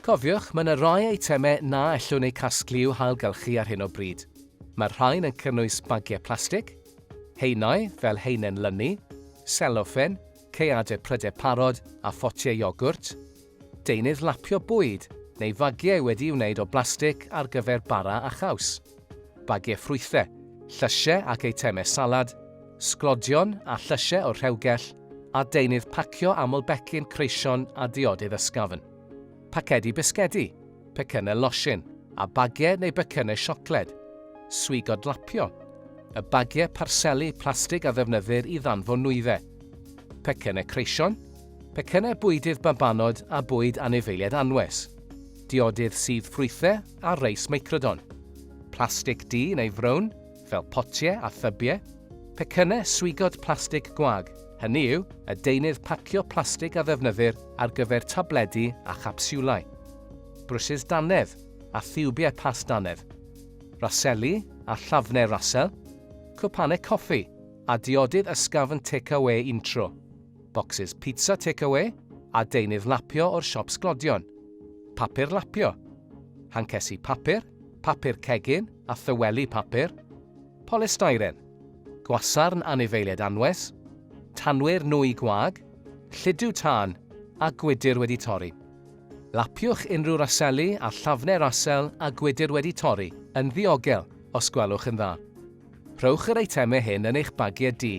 Cofiwch, mae yna rai eitemau na ellwn eu casglu i'w hailgylchu ar hyn o bryd. Mae'r rhain yn cynnwys bagiau plastig, haenau fel haenen lynu, seloffen, caeadau prydau parod a photiau iogwrt, Deunydd lapio bwyd neu fagiau wedi'i wneud o blastig ar gyfer bara a chaws, bagiau ffrwythau, llysiau ac eitemau salad, sglodion a llysiau o'r rhewgell, a deunydd pacio aml becyn creision a diodydd ysgafn. Pacedi bisgedi, pecynnau losin, a bagiau neu becynnau siocled. Swigod lapio, y bagiau parseli plastig a ddefnyddir i ddanfon nwyddau. Pecynnau creision, pecynnau bwydydd babanod a bwyd anifeiliaid anwes, diodydd sudd ffrwythau a reis meicrodon, plastig du neu frown, fel potiau a thybiau, pecynnau swigod plastig gwag, hynny yw, y deunydd pacio plastig a ddefnyddir ar gyfer tabledi a chapsiwlau, brwsys dannedd a thiwbiau past dannedd, raseli a llafnau rasel, cwpanau coffi, a diodydd ysgafn tecawê untro. bocsys pizza take-awê a deunydd lapio o'r siop sglodion, papur lapio, hancesi papur, papur cegin a thyweli papur, polystyren, gwasarn anifeiliaid anwes, tanwyr nwy gwag, lludw tân a gwydr wedi torri. Lapiwch unrhyw raseli a llafne rasel a gwydr wedi torri yn ddiogel os gwelwch yn dda. Rhowch yr eitemau hyn yn eich bagiau du